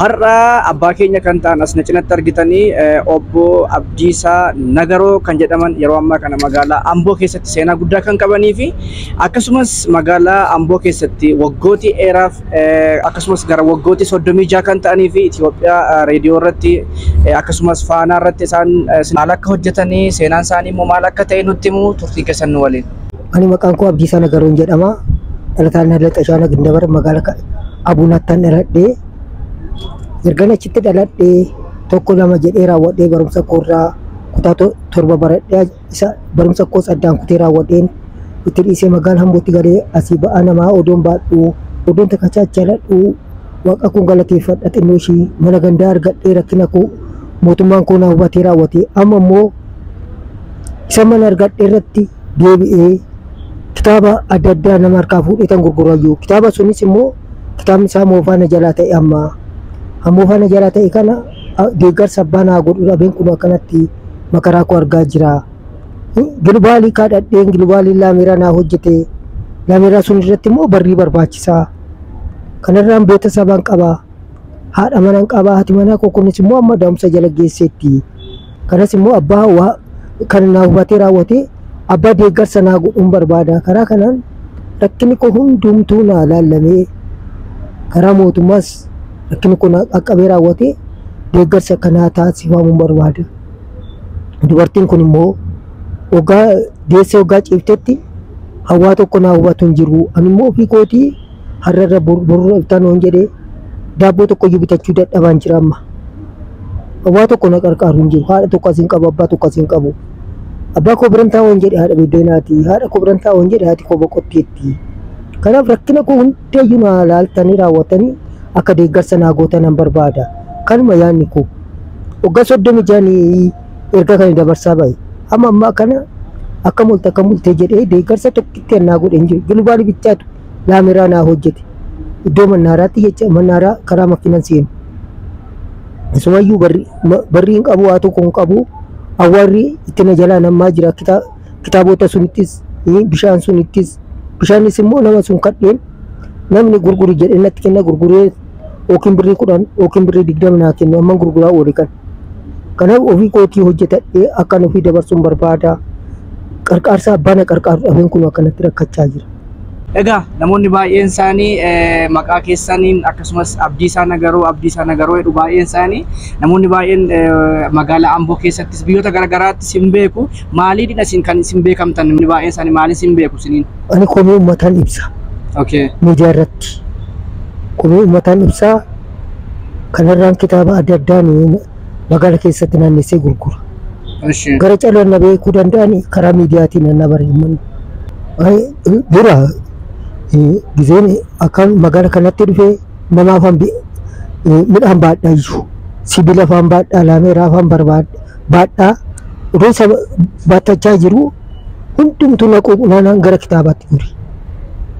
Har'a abbaa keenya kan ta'an as na cinatti argitanii obbo Abdiisaa Nagaroo kan jedhaman yeroo ammaa kana magaalaa Amboo keessatti seenaa guddaa kan qabanii fi akkasumas magaalaa Amboo keessatti waggootii dheeraaf akkasumas gara waggootii 36 kan ta'anii fi Itoophiyaa reediyoo irratti akkasumas faanaa irratti isaan maal akka hojjetanii seenaan isaanii immoo maal akka ta'e nutti himu turtii keessan nu waliin. Ani maqaan koo Abdiisaa Nagaroon jedhama. Dhalataan Halla Xashaana Gindabar magaala Abuunattan dhaladhee ergan achitti dhaladhee tokko lama jedhee raawwadhee barumsa koorraa kutaa torba baradhee isa barumsa koos addaan kutee raawwadheen itti dhiisee magaala Hambootti galee asii ba'aa namaa odoon baadhuu odoon takkacha achi aladhuu waaqa kun galateeffadha xinnoo ishii mana gandaa argadhee rakkina koo mootummaan koo na hubatee raawwatee amma immoo isa mana argadhe irratti deebi'ee kitaaba adda addaa nama harkaa fuudheetan gurgurayyu. Kitaaba sunis immoo kitaabni isaa moofaa na jalaa ta'e amma. Kan moofaa na jalaa ta'e kana a- deeggarsa abbaa naa godhu dhabeen kun akkanatti makaraa koo argaa jira. Gilubaalii kaadhadheen gilubaalii laameeraa naa hojjete. Laameeraa sun irratti immoo barrii barbaachisaa. Kanarraan beeta sabaan qaba. Haadha manan qaba. Haati manaa koo kunis immoo amma da'umsa jala geesseetti. Kanas immoo abbaa waa kan naa hubatee raawwatee abbaa deeggarsa naa godhuun barbaada. Karaa kanaan rakkinni koo hundumtuu naa laallamee karaa mootummaas rakkinni koo naa qaqqabee raawwatee deeggarsi akka naa taasifamuun barbaada. Dubartiin kun immoo waggaa deessee waggaa ciiftetti hawaa tokko naa hubatu hin jiru. Ani immoo ofii kootii har'a irra bor bor dhuftaan waan jedhee daabboo tokko iyyuu bitachuu dadhabaan jira amma. Waa tokko na qarqaaru hin jiru. Haadha tokko asiin qabu, abbaa tokko asiin qabu. Abbaa koo biran taa'u hin jedhe haadha biddeenaati. Haadha koo biran taa'u hin jedhe haati koo boqotteetti. Kanaaf rakkina koo hundayyuu naa laaltanii raawwatanii akka deeggarsa naa gootan nan barbaada. Kanuma yaadni koo. Waggaa soddomi ja'anii erga kan dabarsaa bahe. Amma ammaa kana akka molte akka molte jedhee deeggarsa tokkitti annaa godhe hin jiru. Gilubaalii bichaatu. laameraa naa hojjete iddoo mannaaraatti jecha mannaaraa karaa makiinan seenu isumayyuu barri ma- barri hin qabu waa tokko hin qabu awwaarri itti na jalaa nammaa jira kita- kitaabota sunittis eh, bishaan sunittis bishaanis immoo nama sun kadheen namni gurguri jedhee natti kenna gurguree yookiin birrii kudhan yookiin birrii digdama naa kennu amman gurguraa oole kan Kanaaf ofii kootii hojjetadhee akkan ofii dabarsuun barbaada. Qarqaarsa abbaa na qarqaaru dhabeen kun akkanatti rakkachaa jira. Egaa namoonni baay'een isaanii maqaa keessaniin akkasumas Abdiisaa Nagaroo Abdiisaa Nagaroo jedhu baay'een isaanii namoonni baay'een magaalaa Amboo keessattis biyyoota garaagaraattis hin beeku maaliidha isin kan isin beekamtan namni baay'een isaanii maaliin isin beeku isiniin? Ani komii uummataan ibsa. Okay. Miidiyaa irratti komii uummataan ibsa. Kanarraan kitaaba adda addaa magaala keessatti naannessee gurgura. Ishi. Gara caloo na beekuu danda'an karaa miidiyaatiin na bari'aman. Dura gizeen akka magaala kanatti dhufe nama afaan midhaan baadhaa iyyuu sibiila afaan baadhaa laameeraa afaan barbaadhaa baadhaa utuu isa baatachaa jiru Hundumtuu na quuqu naanaan gara kitaabaatti gore.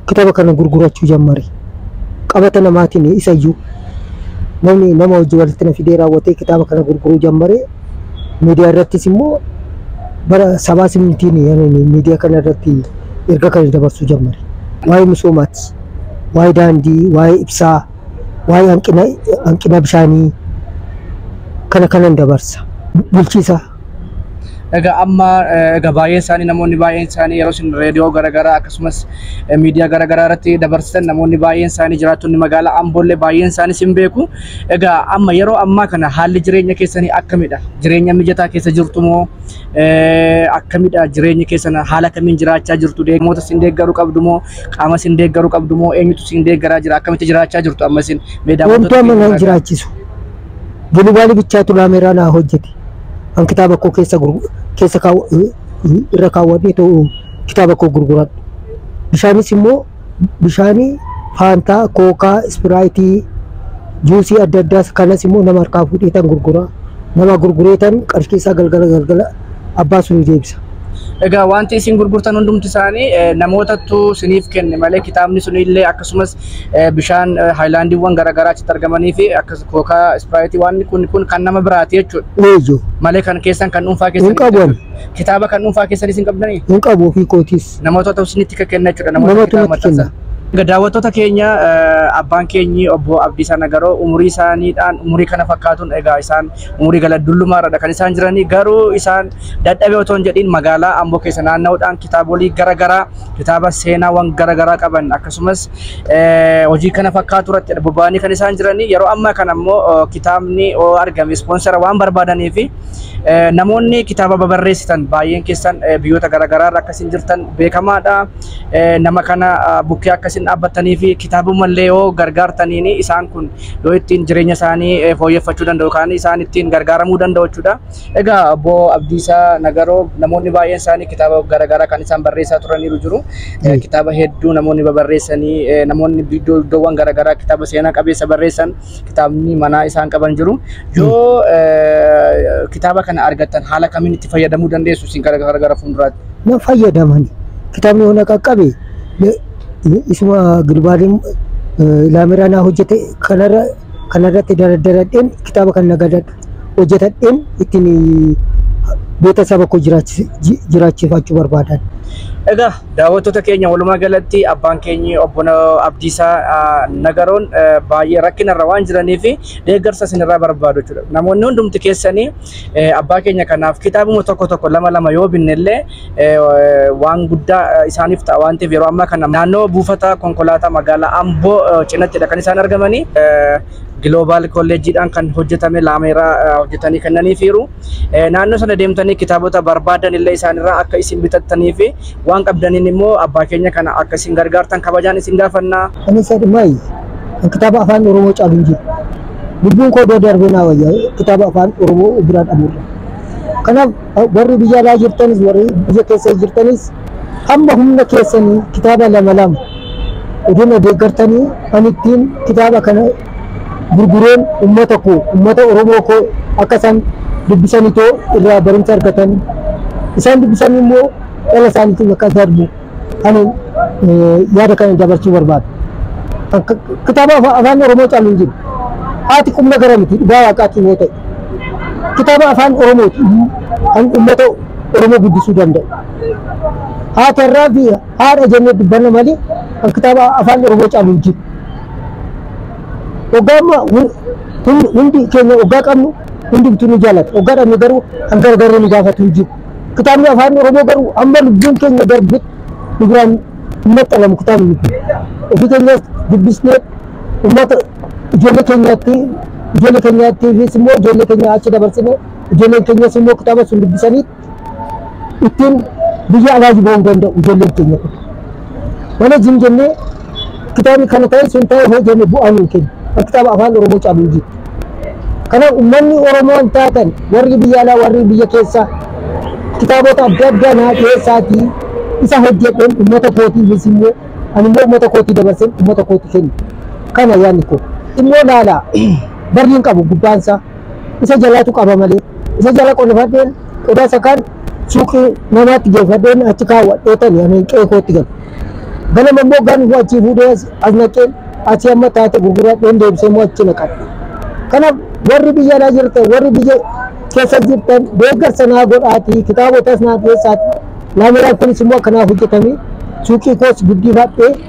Kitaaba kana gurgurachuu jammare. Qabata namaatiin isayyuu namni nama hojii walitti na fidee raawwatee kitaaba kana gurguruu jammare. Miidiyaa irrattis immoo bara sabaa simmitiin miidiyaa kana irratti erga kana dabarsuu jammare. Waa'ee misoomaati. Waa'ee daandii, waa'ee ibsaa, waa'ee hanqina bishaanii kana kanan dabarsa. Bulchiisa Egaa amma egaa baay'een isaanii namoonni baay'een isaanii yeroo isin reediyoo garaagaraa akkasumas miidiyaa garaagaraa irratti dabarsitan namoonni baay'een isaanii jiraattonni magaalaa Amboollee baay'een isaanii isin beeku. Egaa amma yeroo ammaa kana haalli jireenya keessanii akkamidha? Jireenya mijataa keessa jirtu moo akkamidha jireenyi keessan haala kamiin jiraachaa jirtu? Deeggamoota isin deeggaru qabdu moo qaama isin deeggaru qabdu moo eenyutu isin deeggaraa jira? Akkamitti jiraachaa jirtu amma isin? Mee daawwattoota Wanti amma keenya naan irraa jiraachisu gilibaalii bichaatu laameeraa naa hojjete. kan kitaaba koo keessa gurgu- keessa kaawwa- eh, eh, irra kaawwadhee ta'u kitaaba koo gurguradhu. Bishaanis immoo bishaanii faantaa, kookaa, ispiraayitii, juusii adda addaas kanas immoo nama harkaa fuudheetan gurgura. Nama gurgureetan qarshii isaa galgala galgala abbaa sun deebisa. Egaa wanti isin gurgurtan hundumti isaanii eh, namootattu siniif kenne malee kitaabni sunillee akkasumas eh, bishaan eh, haayilaandiiwwan garaagaraa achitti argamanii fi akkas kookaa ispiraayitii waan kun kun kan nama biraati jechuudha. Eejo. Malee kan keessan kan dhuunfaa keessan Hin qabu ani. kitaaba kan dhuunfaa keessan isin qabdanii Hin qabu ofii kootiis. namootatu isinitti kan kenna jechuudha. Namoota Namatu kitaaba natti kenna. maxxansan. Egaa daawwattoota keenya eh, abbaan keenyi obbo Abdiisaa Nagaroo umurii isaaniidhaan umurii kana fakkaatuun egaa isaan Umurii gala dulluma irradha kan isaan jiranii garuu isaan dadhabee otoo hin jedhin magaalaa Amboo keessa naanna'uudhaan kitaabolii gara garaa kitaaba seenaawwan gara garaa qaban akkasumas hojii kana fakkaatu irratti bobba'anii kan isaan jiranii yeroo ammaa kana immoo kitaabni argame ispoonsara waan barbaadanii fi namoonni kitaaba babarreessitan baay'een keessan biyyoota gara garaa irra akkasiin jirtan beekamaadha nama kana bukkee akkasiin dhaabbatanii fi kitaabummallee yoo gargaartaniin isaan kun yoo ittiin jireenya isaanii eh, fooyyeffachuu danda'u yookaan isaan ittiin gargaaramuu danda'u jechuudha. Egaa obbo Abdiisaa Nagaroo namoonni baay'een isaanii kitaaba garaagaraa kan isaan barreessaa turaniiru jiru. Eh, Mm. Kitaaba hedduu namoonni babarreessanii eh, namoonni iddoo iddoowwan garaagaraa kitaaba seenaa qabeessa barreessan kitaabni manaa isaan qaban jiru. Yoo eh, kitaaba kana argattan haala kamiin itti fayyadamuu dandeessu isin gara gara gara fuulduraatti? na fayyadaman kitaabni hona qaqqabe isuma gilbaadin ilaameraa naa hojjete kanarra kanarratti daradaradheen kitaaba kan nagadadha hojjetadheen ittiin beeta saba koo jiraachifaachuu barbaadan. Egaa daawwattoota keenya walumaa galatti abbaan keenya obbo Abdiisaa Nagaroon baay'ee rakkinarra waan jiraniif deeggarsa isinirraa barbaadu jechuudha. Namoonni hundumti keessanii abbaa keenya kanaaf kitaabuma tokko tokko lama lama yoo binnellee waan guddaa isaaniif ta'a waan ta'eef yeroo ammaa kana naannoo buufata konkolaataa magaalaa Amboo cinattidha kan isaan argamanii. Giloobaal kolleejjiidhaan kan hojjetame laameeraa hojjetanii kennaniifiiru. Eh, naannoo sana deemtanii kitaabota barbaadan illee isaanirraa akka isin bitattanii fi waan qabdaniin immoo abbaa keenya kana akka isin gargaartan kabajaan isin gaafanna. Ani isa dhimaayi. Kan kitaaba afaan Oromoo caalu hin jiru. Lubbuun koo doo darbee naa wayya kitaaba afaan Oromoo biraa dhabuudha. Kanaaf warri biyya alaa jirtanis warri biyya keessa jirtanis hamma humna keessanii kitaaba lama lama odina deeggartanii ani ittiin kitaaba kana gurgureen ummata koo ummata Oromoo koo akka isaan dubbisan itoo irraa barumsa argatan isaan dubbisan immoo dhala isaaniitiin akka darbu ani yaada kana dabarsuu barbaada. Kitaaba afaan Oromoo caalu hin jiru. Haati qubna gara miti dhugaa waaqaatiin yoo ta'e. Kitaaba afaan Oromooti kan ummata Oromoo guddisuu danda'u. Haati har'aa fi Haadha jennee dubbanna malee kan kitaaba afaan Oromoo caalu hin jiru. Oggaa amma hundi keenya oggaa qabnu hundumtuu ni jaallata. Oggaa dhabne garuu kan gargaaree nu gaafatu hin jiru. Kitaabni afaan Oromoo garuu amma lubbuun keenya darbe nu biraan hin maxxanamu kitaabni kun. Ofii keenyas dubbisnee uummata ijoollee keenyaatti ijoollee keenyaattiifis immoo ijoollee keenya achi dabarsinee ijoolleen keenyas immoo kitaaba sun dubbisanii ittiin biyya alaaji ba'uu danda'u ijoolleen keenya kun. Mana jim jennee kitaabni kana ta'e sun ta'e hoo jenne bu'aan hin kennu. Kan kitaaba afaan Oromoo caalu hin jiru. Kanaaf uummanni Oromoo hin taatan warri biyya alaa warri biyya keessaa kitaabota adda addaa naa keessaatii isa hojjedheen uummata kootii innis immoo ani immoo uummata kootii dabarseen uummata kootii kennu. Kana yaadni koo. Immoo laala barri hin qabu gubbaansaa. isa jalaatu qaba malee isa jala qolifadheen qodaa sakaan suuqii namaatti geeffadheen achi kaawwadhee tani ani qe'ee kootti gala. Ganama immoo gaaf immoo achii fuudhee as as naqeen achii amma taate gurguradheen deebisee immoo achi naqadha. Kanaaf warri biyya alaa jirtan warri biyya keessa jirtan deeggarsa naa godhaatii kitaabotas naa dhiyeessaati. Laameeraan kunis immoo akka naaf hojjetamee suuqii koos guddifadhee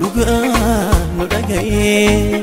dhugaa nu dhaga'ee.